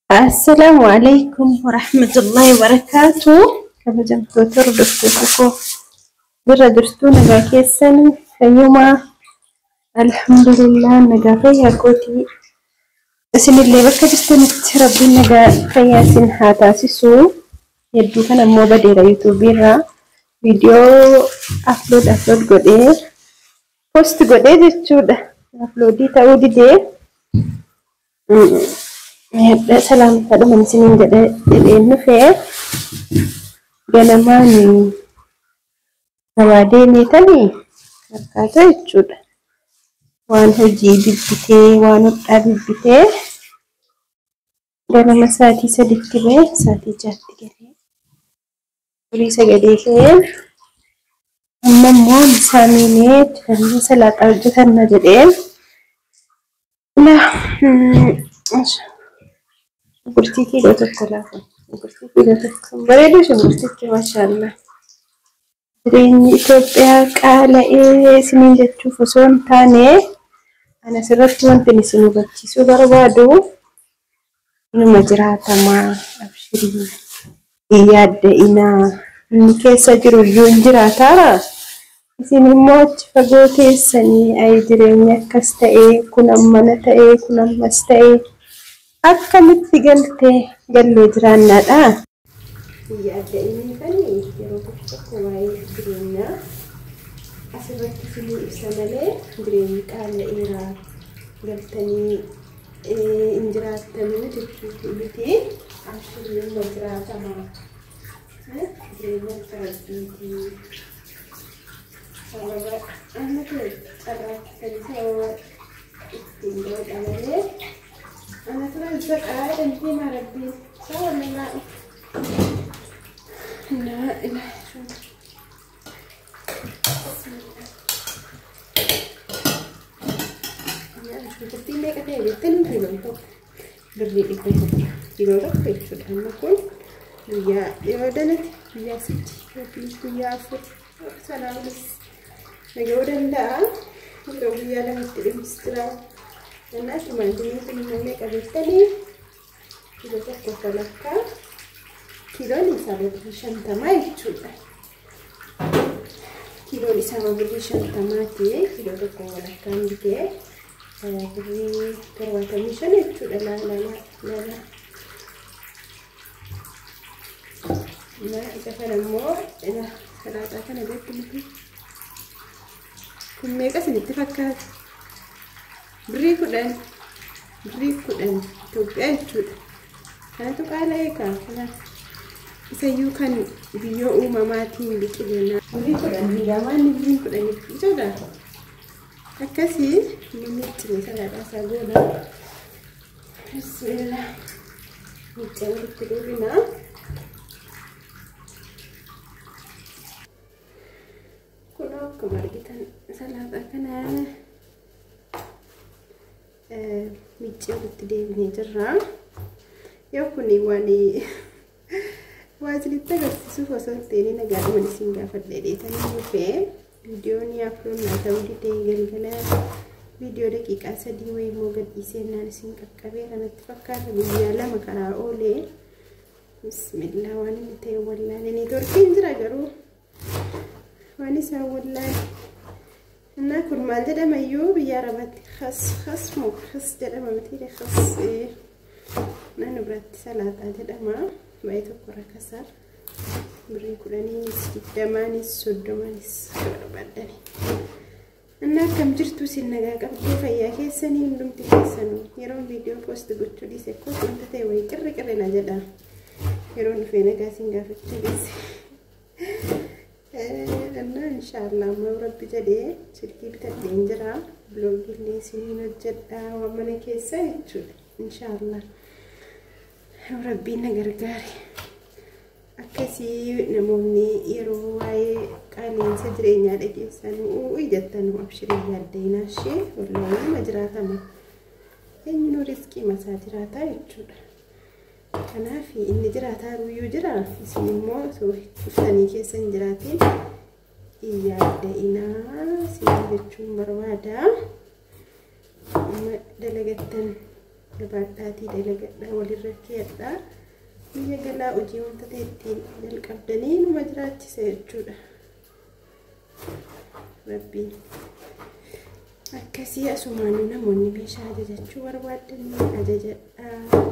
Assalaamu alaikum warahmatullahi wabarakaatu. Kabajamtoota hordoftoota koo jirra jirtuu nagaa keessan fayyumaa alhamdulillah nagaa fayyaa kootii isinillee bakka jirtanitti rabbiin nagaa fayyaa isin haa taasisu. Hedduu kan ammoo badeera yuutuubii irraa viidiyoo aflood aflood godhee post godhee jechuudha uploadii ta'uu didee Hadha salaamta dhuman isiniin jedhe jedheen dhufee ganamaan gabaa deemeetanii akkaata jechuudha. Waan hojii bibbitee waan hodhaa bibbitee Ganama sa'aatii sadiitti ba'e sa'aatii jaatti galee furii sagalee ka'ee amma immoo misaa miinee dibannee salaaxaa hojjetanna jedhee la gurtii kiiloo tokko laafa gurtii kiiloo tokko bareedu sun gurtichi maashaallah Jireenyi Itoophiyaa qaala'ee isiniin jechuuf osoo hin taane, ani asirratti wantin isin hubachiisuu barbaadu inuma jiraatama abshirii hin yaadda'inaa inni keessa jiru iyyuu hin jiraataara isin immoo achi fagoo teessanii ayi jireenyi akkas ta'e kun ammana ta'e kun ammas ta'e akkamitti galte gallee jiraannaadha. yaadda inni kani yeroo tokko tokko waa'ee jireenyaa asirratti sinii ibsa malee jireenyi qaala'eera galtanii hin jiraattanuu jechuutu miti abshirii numa jiraatama jireenya akka rabbiiti sababa amma ta'e carraatti kan ta'e ittiin godha malee Ana turan isa qaala dantee maa rabbiin. Isaa waliin laa'u. Laa ilaa. Shunkurtii meeqa ta'e jettee nuti himamtu. Birrii dhibba tokko. Yeroo tokko jechuudha. Amma kun guyyaa yoo dalate guyyaa sadii yookiin guyyaa afur. Salaamis nagahuu danda'a. Yeroo guyyaa lamatti dhimmis jira. Kanaaf maandiin kun immoo meeqa beektanii? Kiiloo tokko kan akka kiiloon isaa birrii shantamaa jechuudha. Kiiloon isaa birrii shantamaati. Kiiloo tokko kan akka bitee birrii torbaatamii shan jechuudha. Laalaa laalaa. Maa isa kana immoo ila laaqaa kana beektu miti. Kun meeqa isinitti fakkaata? Birrii kudhan. Birrii kudhan Itoophiyaa jechuudha. Kanatu qaala'ee kaa kana isayyuu kan biyyoo uumamaatiin biqileena. Birrii kudhan hangaamaa inni birriin kudhan jechuudha. Akkasii inni miiccine salaadhaa isaa goona. Bismillah. Miccaa walitti dubina. Kun akkuma argitan salaaxaa kana miccaa walitti deebinee jirra. Yoo kun waan Waa isinitti agarsiisuuf osoo hin ta'in nagaadhuma isin gaafadhee dheetanii dhufee viidiyoon afroon naa ta'uu didee galgala viidiyoo daqiiqaa sadii wayii immoo gadhiisee naan isin qaqqabee kanatti fakkaata guyyaa lama karaa oolee bismillaa waan inni ta'e wallaalee neetworkiin jira garuu waan isaa wallaahi innaa kun maal jedhama iyyuu biyya arabatti kas kas moo kas jedhama mitiire kas naannu biratti salaaxaa jedhama baay'ee tokko irra kasaar birrii kudhaniinis digdamaanis soddomaanis barbaadani innaa akkam jirtu isin nagaa qabdee fayyaa keessanii hundumti keessanuu yeroon viidiyoo poosti gochuu dhiise koo wanta ta'e wayii qirri qirri na jedha yeroon dhufee nagaa isin gaafachuu dhiise. Annaa inshaallah amma yoo rabbi jedhe silkii bitadheen jira biloogillee isiniin hojjedha waan mana keessa jechuudha inshaallah yoo rabbiin na gargaare akkasii namoonni yeroo waa'ee qaala'insa jireenyaa dhageessan u'u'i jettan abshirii yaaddeenaa ishee wallahi nama jiraatama eenyuun riskii masaa jiraataa jechuudha Kanaaf inni jiraataa ruuyyuu jira isin immoo osoo dhuftanii keessa hin jiraatiin yaada'inaa siin jechuun barbaada. Amma dalagattan barbaadhaatii dalagadhaa walirra keeyadhaa. Biyya galaa hojii wanta ta'e ittiin jalqabdanii numa jiraachisa jechuudha. rabbiin akkasii asumaanuu namoonni meeshaa ajajachuu barbaadanii ajajadhaa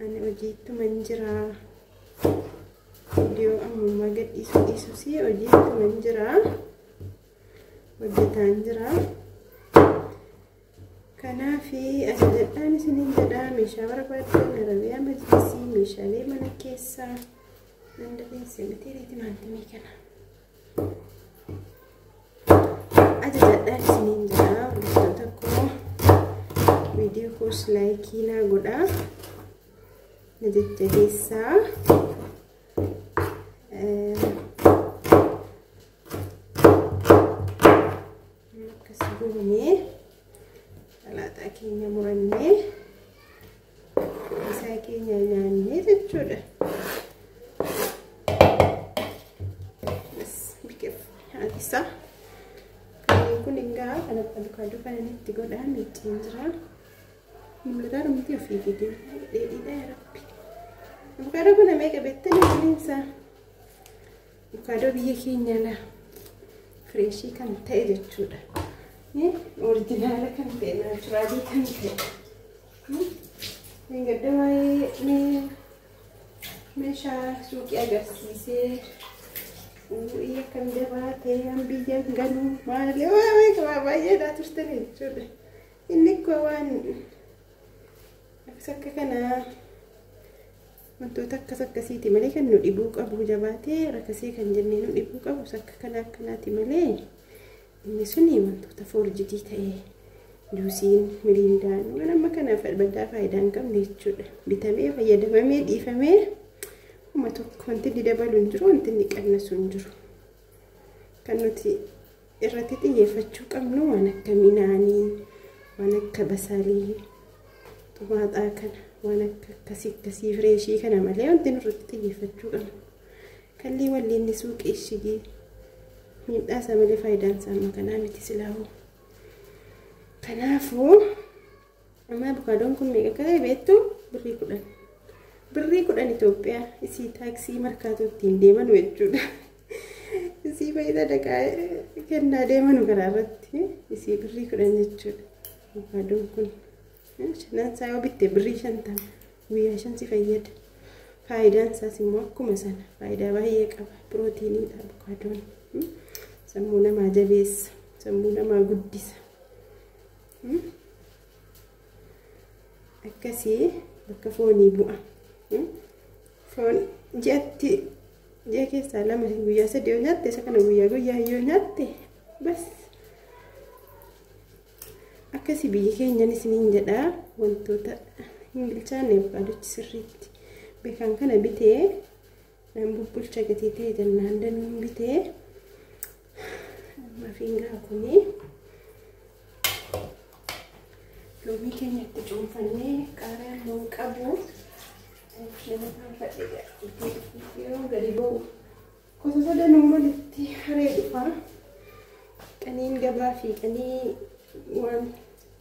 ani hojiittuman jiraa viidiyoo ammummaa gadhiisuu dhiisusi hojiittuman jiraa hojjetaan jiraa Kanaafi ajajadhaan isiniin jedha meeshaa barbaaddan arabiyaa majlisii meeshaalee mana keessaa nan dandeesse miti timaantimii kana. Ajajadhaan isiniin jedha hordoftoota koo viidiyoo koos laayikii naa godhaa na jajjabeessaa. Akkasi goonee salaaxaa keenya murannee isaa keenya nyaannee jechuudha. Isaa kanneen kun egaa kan abbalukaaduu kana itti godhaa miicciin jira. Mul'ataa dhumti ofii gidee dheedhiidhaa rabbi. Abbalukaaduu kana meeqa beektanii waliin isaa? Avokaadoo biyya keenya laa fireeshii kan ta'e jechuudha. Orijinaala kan ta'e naachuraalii kan ta'e. Kan gadda waa'ee meeshaa suuqii agarsiisee uu'ii akkam jabaatee an biyya ganuu maali waa'ee qabaa baay'eedhaa turtan jechuudha. Inni koo waan akkas akka kanaa Wantoota akkas akkasiiti malee kan nu dhibuu qabu jabaatee rakasee kan jennee nu dhibuu qabu sakka kana akkanaati malee inni suni wantoota foorjidii ta'ee juusiin miriindaan waan amma kana baddaa faayidaa hin qabne jechuudha bitamee fayyadamamee dhiifamee kuma tokko wanti inni dabalu hin jiru wanti inni qannasu hin jiru kan nuti irratti xiyyeeffachuu qabnu waan akka minaanii waan akka basaalii xumaaxaa kana waan akka akkasii akkasii fireeshii kana malee wanti nurratti xiyyeeffachuu qabnu kallii walliinni suuqii ishigii miidhaa isaa malee faayidaan isaa amma kanaa miti silaahuu kanaafuu Amma abukaadoon kun meeqa akka ta'e beektu birrii kudhan. Birrii kudhan Itoophiyaa isii taaksii markaatoo ittiin deemanu jechuudha. Isii fayyada dhaqaa kennaa deemanu karaa irratti isii birrii kudhan jechuudha. Abukaadoon kun shanan isaa yoo bitte birrii shantama guyyaa shan si fayyada. Faayidaan isaas immoo akkuma sana faayidaa baay'ee qaba. Pirootiiniidha abukaadoon. Sammuu namaa jabeessa. Sammuu namaa guddisa. akkasii bakka foonii bu'a foon ji'atti ji'a keessaa lama guyyaa sadii yoo nyaatte isa kana guyyaa guyyaa yoo nyaatte bas akkasii biyyi keenyan isiniin jedhaa wantoota hin bilchaanne abukaadochi sirriitti beekan kana bitee Nan bubbulcha gatii ta'e jennaan danuun bitee mafiin gaa kunii loomii keenya itti cuunfannee qaaraan loon qabu nama faanfadhe gaa itti yeroo gadi ba'u kosasa danuu malitti haree dhufaa qaniin gabaa fi qanii waan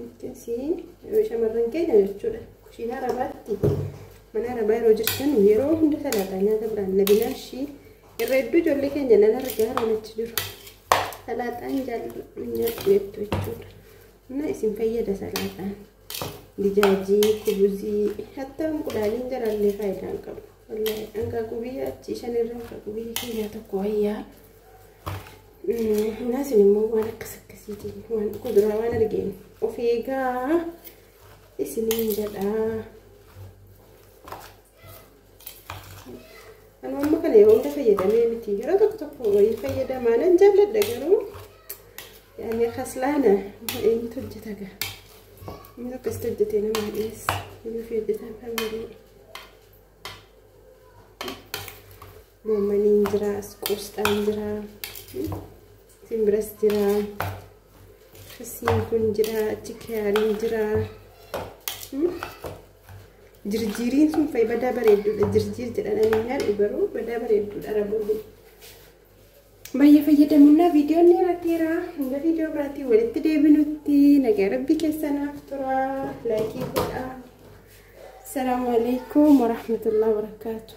akkasii shamarran keenya jechuudha kushiinaa rabaatti mana arabaa yeroo jirtan yeroo hunda salaataa nyaata biraan nabinaan ishii irra hedduu ijoollee keenya nan argaa raanachi jiru salaataan jaalladhu nyaadhu jettu jechuudha na isin fayyada salaataan dijaajii kubuzii hattaa unqulaaliin jalaallee faayidaa hin qabu wallahi hanqaaquu biyya achii shan irra hanqaaquu biyya keenyaa tokko wayyaa Naas immoo waan akkas akkasiiti waan kuduraa waan argeen of eegaa isiniin jedhaa. Anu amma kana yeroo hunda fayyadamee miti yeroo tokko tokko wayii fayyadamaa nan jaalladha garuu yaani kaslaana eenyutu hojjeta gaa inni akkasitti hojjetee nama dhiyeessa inni fi hojjetaan kan malee. Goomaniin jira, as qoosxaan jira, siin biras jira, siin kun jira, achi kiyaariin jira. Jirjiiriin sun fa'i badaa bareedduudha. Jirjiir jedhan ani hin haadhu garuu badaa bareedduudha arabuun. Baay'ee fayyadamuunaa viidiyoon dheerateera. Hanga viidiyoo biraatiin walitti deebinutti nagaa rabbii keessanaaf tura. Laayikii godhaa. Salaamu alaikum warahmatullahi wabarakatuh.